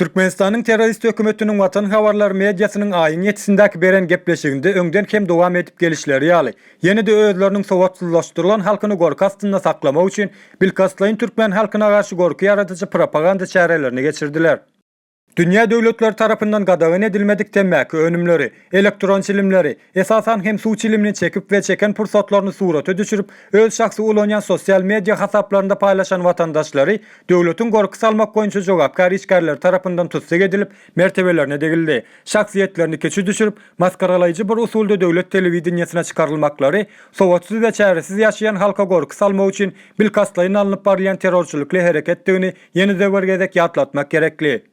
Türkmenistanyň terrorist hökümetiniň watan habarlar mediasynyň aýyň ýetisindäki beren gepleşiginde öňden hem dowam edip gelişleri ýaly, ýene-de özleriniň sowatsyzlaşdyrylan halkyny gorky astynda saklamak üçin bilkastlaýyn türkmen halkyna garşy gorky ýaradyjy propaganda çärelerini geçirdiler. Dünýä döwletleri tarapyndan gadagan edilmedik temmäki önümleri, elektron çilimleri, esasan hem suw çilimini çekip we çeken pursatlaryny surata düşürip, öz şahsy ulanýan sosial media hasaplarynda paýlaşan watandaşlary döwletiň gorky salmak boýunça jogapkär işgärleri tarapyndan tussag edilip, mertebelerine degildi, şahsyýetlerini kiçi düşürip, masgaralaýjy bir usulda döwlet telewideniýesine çykaryl-maklary sowatsyz we çäresiz ýaşaýan halka gorky salmak üçin bilkastlaýyn alnyp barylýan terrorçylyk-ly hereketdigini Ýene-de bir gezek ýatlatmak gerekli.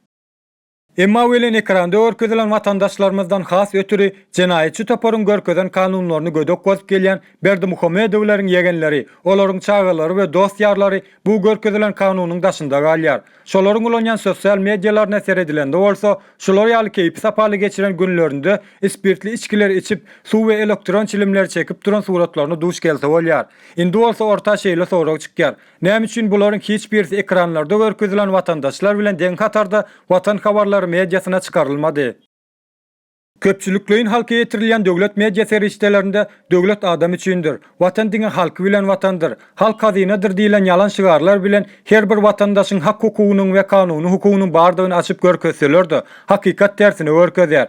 Emma welin ekranda görkezilen watandaşlarymyzdan has ötüri jenaýatçy toparyň görkezen kanunlaryny gödek bozup gelýän Berdimuhamedowleriň ýegenleri, olaryň çagalary we dost-ýarlary bu görkezilen kanunyň daşynda galýar. Şolaryň ulanýan sosial medialaryna seredilende bolsa, şular ýaly keýpi-sapaly geçiren günlerinde ispirtli içgileri içip, suw we elektron çilimleri çekip duran suratlaryna duş gelse bolýar. Indi bolsa orta şeýle sorag çykýar, Näme üçin bularyň hiç birisi ekranlarda görkezilen watandaşlar bilen deň hatarda watan habarlary mediasyna çykarylmady? Köpçülikleýin halka ýetirilýän döwlet media serişdelerinde Döwlet adam üçindir, Watan diňe halky bilen watandyr, Halk hazynadyr diýlen ýalan şygarlar bilen her bir watandaşyň hak-hukugynyň we kanuny hukugynyň bardygyny açyp görkezseler-de, hakykat tersine görkezýär.